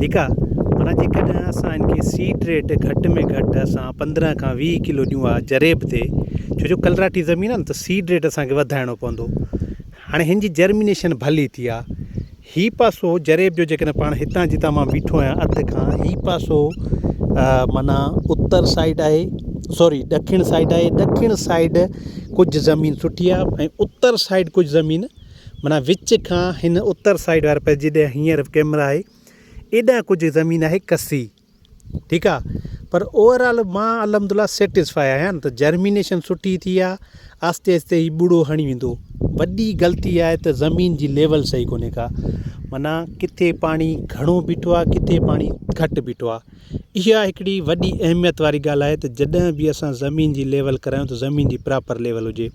ٺيڪ آ معنيٰ جيڪڏهن اسان ان کي سيڊ ريٽ گهٽ ۾ گهٽ اسان پندرهن کان ويهه ڪلو ڏيون آ جريب تي ڇو جو ڪلراٺي زمين آ نه ته سيڊ ريٽ اسانکي وڌائڻو پوندو هاڻي هن جي جرمينيشن ڀلي ٿي آ هي پاسو جريب جو جيڪڏهن پاڻ هتان جتان مان بيٺو آهيان اڌ کان هي پاسو معنيٰ اتر سائيڊ آهي سوري ڏکڻ سائيڊ آهي ڏکڻ سائيڊ ڪجهه زمين سٺي آ ۽ اتر سائيڊ ڪجهه زمين معنيٰ وچ کان هن اتر سائيڊ واري پاسي جيڏانهن هينئر ڪيمرا آهي ايڏانهن ڪجهه زمين آهي ڪسي ٺيڪ آ پر اوور آل مان الحمد لله سيٽسفائي آهيان ته جرمينيشن سٺي ٿي آ آهستي آهستي هي ٻڙو هڻي ويندو وڏي غلطي آهي ته زمين جي ليول صحيح ڪونهي ڪا معنيٰ ڪٿي پاڻي گهڻو بيٺو آ ڪٿي پاڻي گهٽ بيٺو آ اها هڪڙي وڏي اهميت واري ڳالهه آهي ته جڏهن به اسان زمين جي ليول ڪرايون ته زمين جي پراپر ليول هجي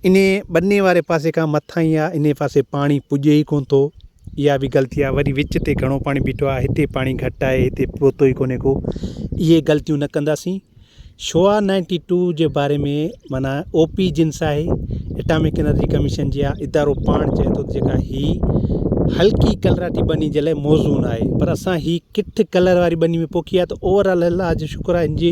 انهيء ٻني واري پاسي کان مٿاهين آ، انهيء پاسي پاڻي پڄي ئي ڪونه ٿو. اها به غلطي آ. وري وچ تي گهڻو پاڻي بيٺو آ، هتي پاڻي گهٽ آهي، هتي پهتو ئي ڪونهي ڪو. اهي غلطيون نه ڪنداسين. شعاع نائنٽي ٽو جي باري ۾ معنيٰ او پي جنس آهي، اٽامڪ انرجي ڪميشن جي آ، ادارو پاڻ چئي ٿو ته جيڪا هي هلڪي ڪلراٽي ٻني جي لاء موزون آهي، پر اسان هي ڪٺ ڪلر واري ٻني ۾ پوکي آ ته اوور آل الله جو شڪر آ هن جي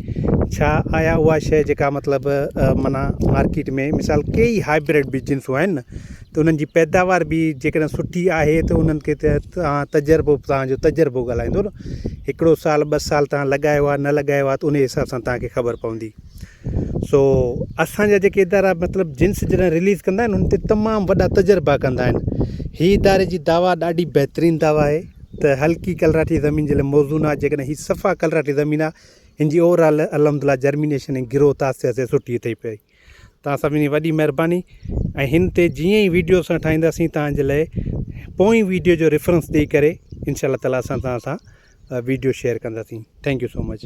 ڇا آيا اها شيء جيڪا مطلب معنيٰ مارڪيٽ ۾ مثال ڪي ئي هائبرڊ بي جنسون آهن نه ته انهن جي پيداوار به جيڪڏهن سٺي آهي ته انهن کي ته تان تجربو به تان جو تجربو ڳالهائيندو نه هڪڙو سال ٻه سال تان لڳايو آهي نه لڳايو آهي ته انهي حساب سان تان کي خبر پوندي سو اسان جا جيڪي ادارا مطلب جنس جڏهن رليز ڪندا آهن انهن تي تمام وڏا تجربا ڪندا آهن هي اداري جي دوا ڏاڍي بهترين دوا آهي ته هلڪي ڪلراٺي زمين جي لاء موزون آهي جيڪڏهن هي صفا ڪلراٺي زمين آهي هن جي اوور آل الحمدلله جرمينيشن ۽ گروٿ آهستي آهستي سٺي اٿئي پئي تان سڀني وڏي مهرباني ۽ هن تي جيئن ئي ويڊيو اسان ٺاهينداسين تان جي لاء پوئين ويڊيو جو ريفرنس ڏيئي ڪري انشاء الله تعالٰي اسان تان سان ويڊيو شيئر ڪنداسين ٿينڪ يو سو مچ